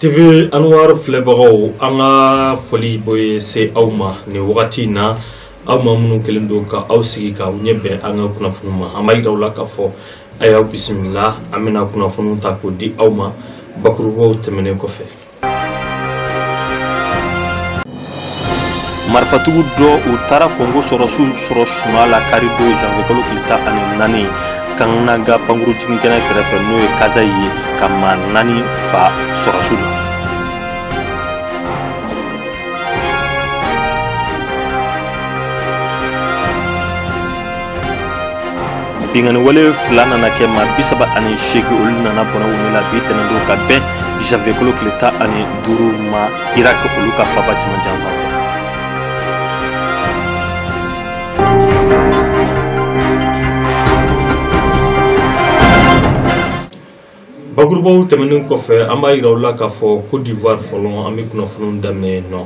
TV Anwar filɛbagaw an ka foli bɛ se aw ma nin wagati in na aw ma minnu kɛlen don ka aw sigi ka aw ɲɛ bɛn an ka kunnafoni ma an b'a yira aw la k'a fɔ a y'aw bisimila an bɛna kunnafoniw ta k'o di aw ma bakurubaw tɛmɛnen kɔfɛ marifatigiw dɔ u taara Congo sɔrɔsiw sɔrɔ sunaa la kari don janvier kalo tile tan ani naani Kananga pankuru jiginkɛnɛ kɛrɛfɛ n'o ye Kasaï ye ka maa naani fa sɔrɔsiw la binkanni wale fila nana kɛ maa bi saba ani seegin olu nana bɔnɛ u ni la bi tɛnɛn don ka bɛn janvier kalo tile tan ani duuru ma Irak olu ka faaba cɛmancɛ fan fɛ. Bakurubaw tɛmɛnen kɔfɛ an b'a yira aw la k'a fɔ cote d'ivoire fɔlɔ an bɛ kunnafoni daminɛ nɔ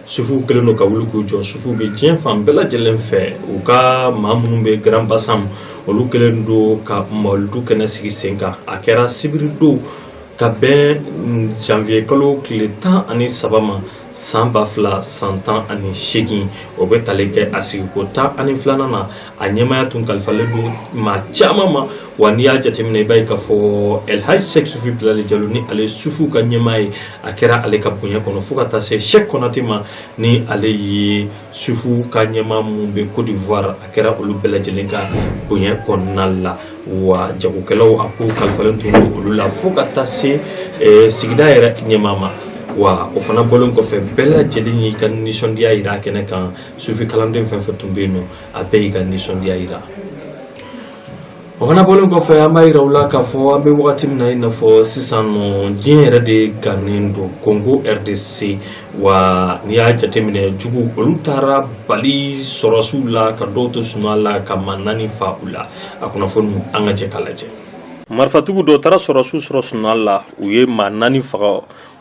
sufuw kɛlen don ka wuli k'u jɔ sufu bɛ diɲɛ fan bɛɛ lajɛlen fɛ u ka maa minnu bɛ Grand-Bassam olu kɛlen don ka mawuludu kɛnɛ sigi sen kan a kɛra sibiri don ka bɛn janvier kalo tile tan ani saba ma san ba fila san tan ani seegin o bɛ tali kɛ a sigiko tan ani filanan na a ɲɛmaya tun kalifalen don maa caman ma wa n'i y'a jateminɛ i b'a ye k'a fɔ elhaji sɛki sufi bilali jalo ni ale sufu ka ɲɛmaa ye a kɛra ale ka bonya kɔnɔ fo ka taa se sɛki kɔnate ma ni ale ye sufu ka ɲɛmaa min bɛ cote d'ivoire a kɛra olu bɛɛ lajɛlen ka bonya kɔnɔna la wa jagokɛlaw a ko kalifalen tun don olu la fo ka taa se eh, sigida yɛrɛ ɲɛmaa ma wa o fana bɔlen kɔfɛ bɛɛ lajɛlen y'i ka nisɔndiya yira a kɛnɛ kan sufi kalanden fɛn fɛn tun bɛ yen nɔ a bɛɛ y'i ka nisɔndiya yira O fana bɔlen kɔfɛ an b'a yira aw la k'a fɔ an bɛ wagati min na i n'a fɔ sisan nɔ diɲɛ yɛrɛ de gannen don Congo RDC wa n'i y'a jateminɛ jugu olu taara bali sɔrɔsiw la ka dɔw to sunaa la ka maa naani fa u la a kunnafoni an ka jɛ k'a lajɛ. Marifatigiw dɔ taara sɔrɔsiw sɔrɔ sunaa la u ye maa naani faga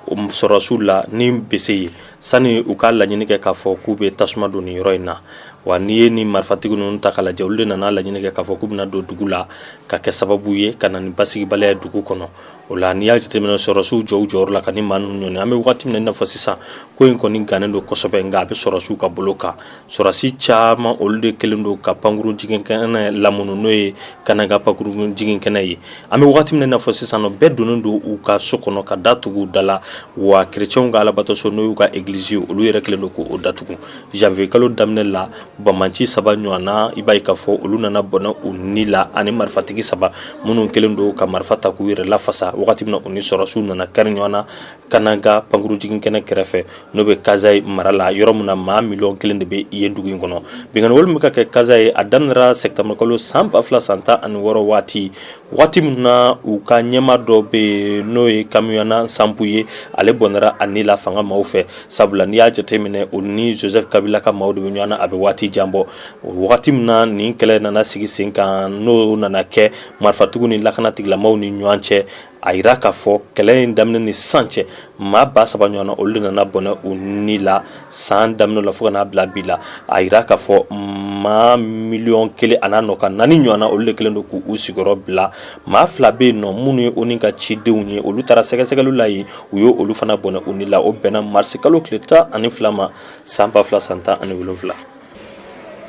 o sɔrɔsiw la ni bese ye sani u k'a laɲini kɛ k'a fɔ k'u bɛ tasuma don ni yɔrɔ in na wa n'i ye ni marifatigiw ninnu ta k'a lajɛ olu de nana laɲini kɛ k'a fɔ k'u bɛna don dugu la ka kɛ sababu ye ka na ni basigibaliya ye dugu kɔnɔ o la n'i y'a jateminɛ sɔrɔsiw jɔ u jɔyɔrɔ la ka ni maa ninnu ɲɔni an bɛ waati min i n'a fɔ sisan ko in kɔni gannen don kosɛbɛ nka a bɛ sɔrɔsiw ka bolo kan Sɔrɔsi caman olu de kɛlen don ka pankurun jigin kɛnɛ lamini n'o ye Kananga pankurun jigin kɛnɛ ye, an bɛ waati min na i n'a fɔ sisan nɔ bɛɛ donnen don u ka so kɔnɔ ka da tugu u da la wa chrétiens ka Alabatoso n'o y'u ka église ye olu yɛrɛ kɛlen don k'o datugu janvier kalo daminɛ la banbanci saba ɲɔgɔnna i b'a ye k'a fɔ olu nana bɔnɛ u ni la ani marifatigi saba minnu kɛlen don ka marifa ta k'u yɛrɛ lafasa wagati min na u ni sɔrɔsiw nana kari ɲɔgɔn na Kananga pankurun jiginkɛnɛ kɛrɛfɛ n'o bɛ Kasaï mara la yɔrɔ min na maa miliyɔn kelen de bɛ yen dugu in kɔnɔ binkanw olu bɛ ka kɛ Kasaï a daminɛra sɛtanburukalo san ba fila san tan ani wɔɔrɔ waati waati min na u ka ɲɛmaa dɔ bɛ yen n'o ye Kamwina Nsapu ye ale bɔnɛra a ni la fanga maaw fɛ sabula n'i y'a jate minɛ o ni Joseph Kabila ka maaw de bɛ ɲɔgɔn na a bɛ waati jan bɔ wagati min na nin kɛlɛ nana sigi sen kan n'o nana kɛ marifatigiw ni lakana tigilamaw ni ɲɔgɔn cɛ a jira k'a fɔ kɛlɛ in daminɛ ni san cɛ maa ba saba ɲɔgɔnna olu nana bɔnɛ u ni la san daminɛ la fo ka n'a bila bi la a jira k'a fɔ maa miliyɔn kelen an'a nɔ ka naani ɲɔgɔnna olu de kelen don k' u sigiyɔrɔ bila maa fila bɛ yen nɔ minnu ye ONU ka cidenw ye olu taara sɛgɛsɛgɛli la yen u ye olu fana bɔnɛ u ni la o bɛnna marisikalo tile tan ani fila ma san ba fila san tan ani wolonwula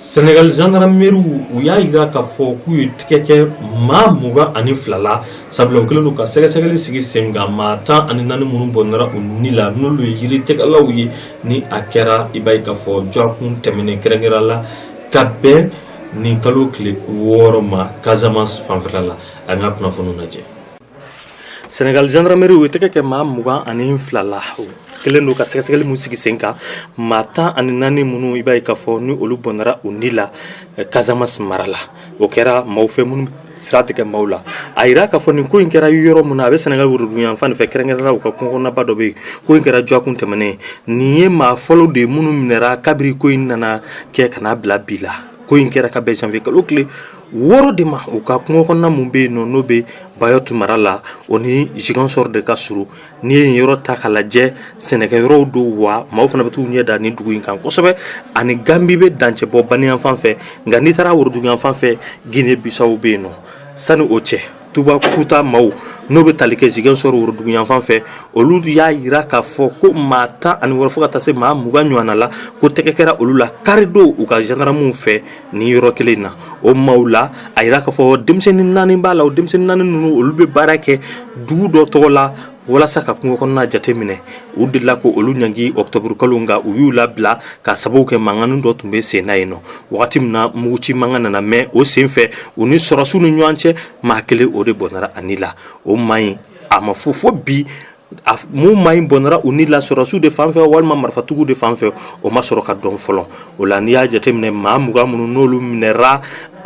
Sɛnɛgali zandarameriw u y'a jira k'a fɔ k'u ye tɛgɛ kɛ maa mugan ani fila la sabula u kɛlen don ka sɛgɛsɛgɛli sigi sen kan maa tan ani naani minnu bɔnɛra u ni la n'olu ye yiri tigɛlaw ye ni a kɛra i b'a ye k'a fɔ dɔgɔkun tɛmɛnen kɛrɛnkɛrɛn la ka bɛn nin kalo tile wɔɔrɔ ma Casamance fanfɛla la an ka kunnafoniw lajɛ Senegali zandarameriw ye tɛgɛ kɛ maa mugan ani fila la kɛlen don ka sɛgɛsɛgɛli min sigi sen kan maa tan ani naani minnu i b'a ye k'a fɔ ni olu bɔnɛra u ni la Casamance mara la o kɛra maaw fɛ minnu sira tigɛ maaw la a jira k'a fɔ nin ko in kɛra yɔrɔ min na a bɛ Senegali woroduguyanfan fɛ kɛrɛnkɛrɛn la kungo kɔnɔnaba dɔ bɛ yen ko in kɛra dɔgɔkun tɛmɛnen nin ye maa fɔlɔ de ye minnu minɛra kabiri ko in nana kɛ ka n'a bila bi la ko in kɛra ka bɛn janvier kalo tile wɔɔrɔ de ma u ka kungo kɔnɔna minnu bɛ yen nɔ n'o bɛ Bayotte mara la o ni Ziguinchor de ka surun n'i ye yen yɔrɔ ta k'a lajɛ sɛnɛkɛ yɔrɔw don wa maaw fana bɛ t'u ɲɛ da nin dugu in kan kosɛbɛ ani Gambie bɛ dancɛ bɔ bani yanfan fɛ nka n'i taara woroduguyanfan fɛ Guinee Bissau bɛ yen nɔ sani o cɛ Toubacouta maaw n'o bɛ tali kɛ Ziguinchor woroduguyanfan fɛ olu y'a jira k'a fɔ ko maa tan ani wɔɔrɔ fo ka taa se maa mugan ɲɔgɔnna la ko tɛgɛ kɛra olu la karidon u ka zandaramuw fɛ nin yɔrɔ kelen na o maaw la a jira k'a fɔ denmisɛnnin naani b'a la o denmisɛnnin naani ninnu olu bɛ baara kɛ dugu dɔ tɔgɔ la walasa ka kungo kɔnɔna jateminɛ u delila k'olu ɲangi octobre kalo nka u y'u labila k'a sababu kɛ mankannin dɔ tun bɛ sen na yen nɔ wagati min na muguci mankan nana mɛn o sen fɛ u ni sɔrɔsiw ni ɲɔgɔn cɛ maa kelen o de bɔnɛra a ni la o maa nin a ma fɔ fo bi a f- mun maa nin bɔnɛra u ni la sɔrɔsiw de fan fɛ walima marifatigiw de fan fɛ o ma sɔrɔ ka dɔn fɔlɔ o la n'i y'a jateminɛ maa mugan minnu n'olu minɛra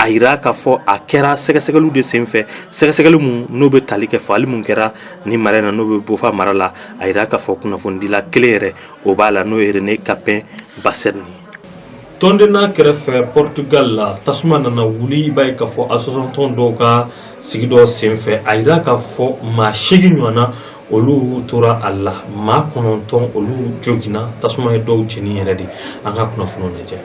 a jira k'a fɔ a kɛra sɛgɛsɛgɛliw de senfɛ sɛgɛsɛgɛli minnu n'o bɛ tali kɛ fagali minnu kɛra nin mara na n'o bɛ Boffa mara la a jira k'a fɔ kunnafonidila kelen yɛrɛ o b'a la n'o ye René Capain Bassène Tondela kɛrɛfɛ Portugal la tasuma nana wuli i b'a ye k'a fɔ association tɔn dɔw ka sigi dɔ senfɛ a jira k'a fɔ maa seegin ɲɔgɔnna olu tora a la maa kɔnɔntɔn olu joginna tasuma ye dɔw jeni yɛrɛ de an ka kunnafoniw lajɛ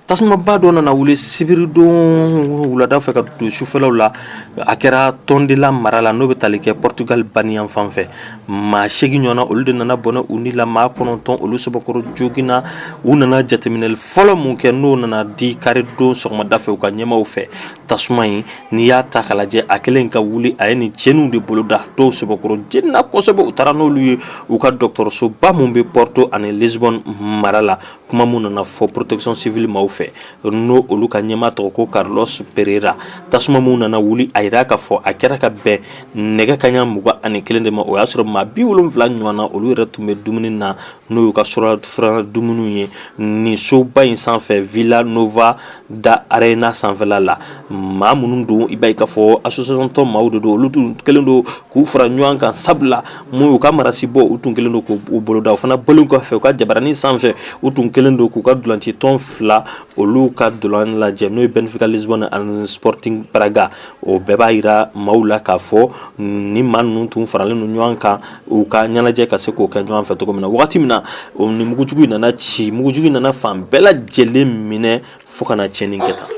tasumaba dɔ nana wuli sibiridon wulada fɛ ka don sufɛlaw la a kɛra Tondela mara la n'o bɛ tali kɛ Portugal baniyan fan fɛ maa segin ɲɔgɔnna olu de nana bɔnɛ u ni la maa kɔnɔntɔn olu sɛbɛkɔrɔ joginna u nana jateminɛli fɔlɔ min kɛ n'o nana di karidon sɔgɔmada fɛ u ka ɲɛmaaw fɛ tasuma in n'i y'a ta k'a lajɛ a kɛlen ka wuli a ye nin cɛnniw de bolo da dɔw sɛbɛkɔrɔ jenina kosɛbɛ u taara n'olu ye u ka dɔgɔtɔrɔsoba minnu bɛ Porto ani Lisbonne mara la kuma min nana fɔ protection civile maaw fɛ n'o olu ka ɲɛmaa tɔgɔ ko Carlos Pereira tasuma minnu nana wuli a jira k'a fɔ a kɛra ka bɛn nɛgɛ kaɲa mugan ani kelen de ma o y'a sɔrɔ maa bi wolon wolonwula ɲɔgɔn na olu yɛrɛ tun bɛ dumuni na n'o y'u ka surafana dumuni ye nin soba in sanfɛ Vila Nova da Rainha sanfɛla la maa minnu don i b'a ye k'a fɔ association tɔn maaw de don olu tun kɛlen don k'u fara ɲɔgɔn kan sabula minnu y'u ka marasi bɔ u tun kɛlen don k'o boloda o fana bɔlen kɔfɛ u ka jabaranin sanfɛ u tun kɛlen don k'u ka ntolancitɔn fila olu ka ntolan lajɛ n'o ye Benfica Lisbonne ani Sporting Braga o bɛɛ b'a jira maaw la k'a fɔ ni maa ninnu tun faralen don ɲɔgɔn kan u ka ɲɛnajɛ ka se k'o kɛ ɲɔgɔn fɛ cogo min na wagati min na o ni mugujugu nana ci mugujugu nana fan bɛɛ lajɛlen minɛ fo ka na tiɲɛni kɛ tan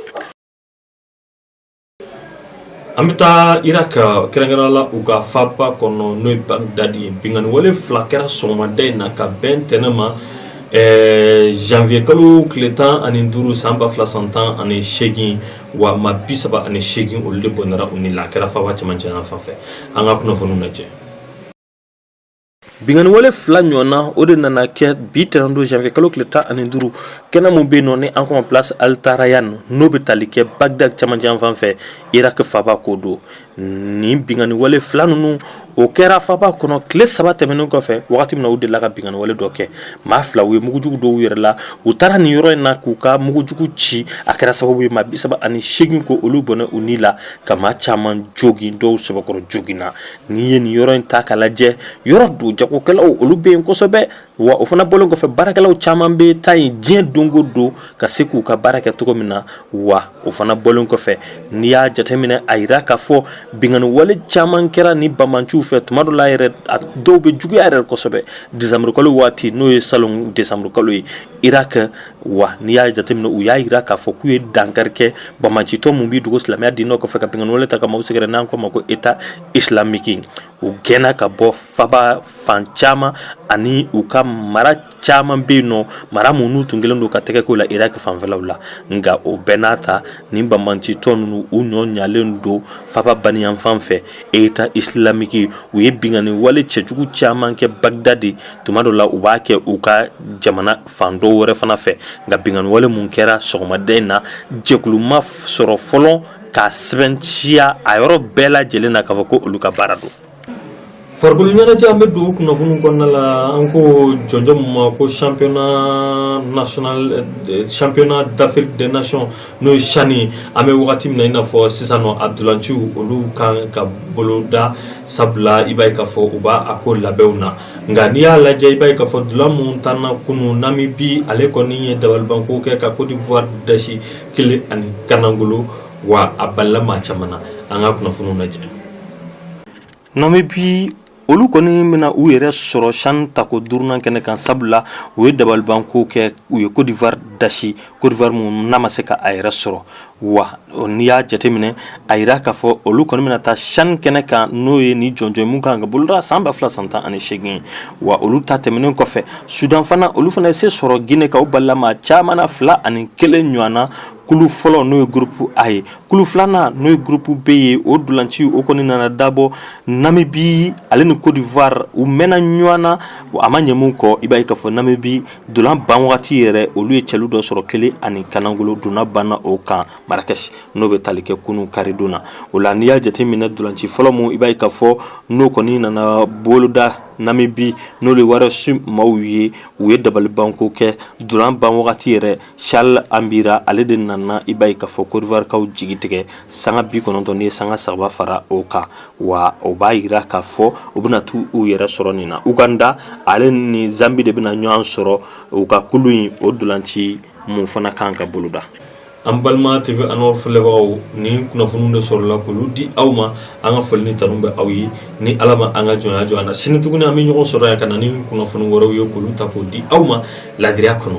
an bɛ taa Irak kɛrɛnkɛrɛnnenya la u ka faba kɔnɔ n'o ye bagdadi ye binkanni wale fila kɛra sɔgɔmada in na ka bɛn ntɛnɛn ma Eh, janvier kalo tile tan ani duuru san ba fila san tan ani seegin wa maa bi saba ani seegin olu de bɔnɛra u ni la a kɛra faba cɛmancɛ yan fan fɛ an ka kunnafoniw lajɛ Binkanni wale fila ɲɔgɔnna o de nana kɛ bi tɛnɛn don zanwiye kalo tile tan ani duuru kɛnɛ min bɛ yen nɔ ni an k'o ma place Altarayan n'o bɛ tali kɛ Bagdad cɛmancɛ yan fan fɛ Irak faba ko don nin binkanni wale fila ninnu o kɛra faba kɔnɔ tile saba tɛmɛnen kɔfɛ waati min na u delila ka binkanniwale dɔ kɛ maa fila u ye mugujugu don u yɛrɛ la u taara nin yɔrɔ in na k'u ka mugujugu ci a kɛra sababu ye maa bisaba ani seegin ko olu bɔnɛ u ni la ka maa caman jogin dɔw sɛbɛkɔrɔ joginna N'i ye nin yɔrɔ in ta k'a lajɛ yɔrɔ don jagokɛlaw olu bɛ yen kosɛbɛ wa o fana bɔlen kɔfɛ baarakɛlaw caman bɛ taa yen diɲɛ don o don ka se k'u ka baara kɛ cogo min na wa o fana bɔlen kɔfɛ n'i y'a jateminɛ a jira k'a fɔ binkanniwale caman kɛra ni banbaanciw fɛ tuma dɔ la yɛrɛ dɔw bɛ juguya yɛrɛ kosɛbɛ desanburukalo waati n'o ye salon desanburukalo ye Irak wa n'i y'a jateminɛ u y'a jira k'a fɔ k'u ye dankari kɛ banbaancitɔ min b'i dogo silamɛya diinɛ kɔfɛ ka binkanniwale ta ka maaw sɛgɛrɛ n'an k'o ma ko état islamique u gɛnna ka bɔ faba fan caman ani u ka mara caman bɛ yen nɔ mara minnu tun kelen don ka tɛgɛko la Irak fanfɛlaw la nka o bɛɛ n'a ta ni banbaancitɔ ninnu u ɲɔ ɲalen don faba baniyanfan fɛ État islamique u ye binkanni wale cɛjugu caman kɛ Bagdad tuma dɔ la u b'a kɛ u ka jamana fan dɔw wɛrɛ fana fɛ nka binkanniwale min kɛra sɔgɔmada in na jɛkulu ma sɔrɔ fɔlɔ k'a sɛmɛntiya a yɔrɔ bɛɛ lajɛlen na k'a fɔ ko olu ka baara don farikolo ɲɛnajɛ an bɛ don kunnafoni kɔnɔna la an ko jɔnjɔn min ma ko championnat d'Afrique des nations n'o ye CHAN an bɛ wagati min na i n'a fɔ sisan nɔ a dolanciw olu kan ka boloda sabula i b'a ye k'a fɔ u b'a a ko labɛnw na nka n'i y'a lajɛ i b'a ye k'a fɔ dolan min tanna kunu Namibie ale kɔni ye dabalibanko kɛ ka Côte d'Ivoire dasi kelen ani kanangolo wa a balila maa caman na an ka kunnafoniw lajɛ Namibie olu kɔni bɛna na u yɛrɛ sɔrɔ CHAN tako duurunan kɛnɛ kan sabula u ye dabalibanko kɛ u ye Côte d'Ivoire dasi Côte d'Ivoire min n'a ma se k'a yɛrɛ sɔrɔ wa n'i y'a jateminɛ a jira k'a fɔ olu kɔni bɛna taa CHAN kɛnɛ kan n'o ye ni jɔnjɔn min kan ka boloda san ba fila san tan ani seegin wa olu ta tɛmɛnen kɔfɛ Soudan fana olu fana se sɔrɔ ginɛkaw balima caman fila ani kelen ɲɔgɔn na kulu fɔlɔ n'o ye groupe A ye kulu filanan n'o ye groupe B ye o dolanci o kɔni nana dabɔ Namibie ale ni Côte d'Ivoire u mɛnna ɲɔgɔn na a ma ɲɛ min kɔ i b'a ye k'a fɔ Namibie dolan ban wagati yɛrɛ olu ye cɛlu dɔ sɔrɔ kelen ani kanangolo dolan banna o kan Marrakech n'o bɛ taali kɛ kunun karidon na o la n'i y'a jateminɛ ntolanci fɔlɔ min i b'a ye k'a fɔ n'o kɔni nana boloda Namibie n'o de Warriors maaw ye u ye dabalibanko kɛ dolan ban wagati yɛrɛ si anbira ale de nana i b'a ye k'a fɔ kɔdiwarikaw jigi tigɛ sanga bi kɔnɔntɔn ni sanga saba fara o kan wa o b'a jira k'a fɔ u bɛna taa u yɛrɛ sɔrɔ nin na uganda ale ni zanbi de bɛna ɲɔgɔn sɔrɔ u ka kulu in o ntolanci mun fana kan ka boloda an balima tewe an filɛbagaw nin kunnafoniw de sɔrɔla k'olu di aw ma an ka foli ni tanu bɛ aw ye ni ala ma an ka jɔnya jɔ an na sini tuguni an bɛ ɲɔgɔn sɔrɔ yan ka na ni kunnafoni wɛrɛw ye k'olu ta k'o di aw ma laadiya kɔnɔ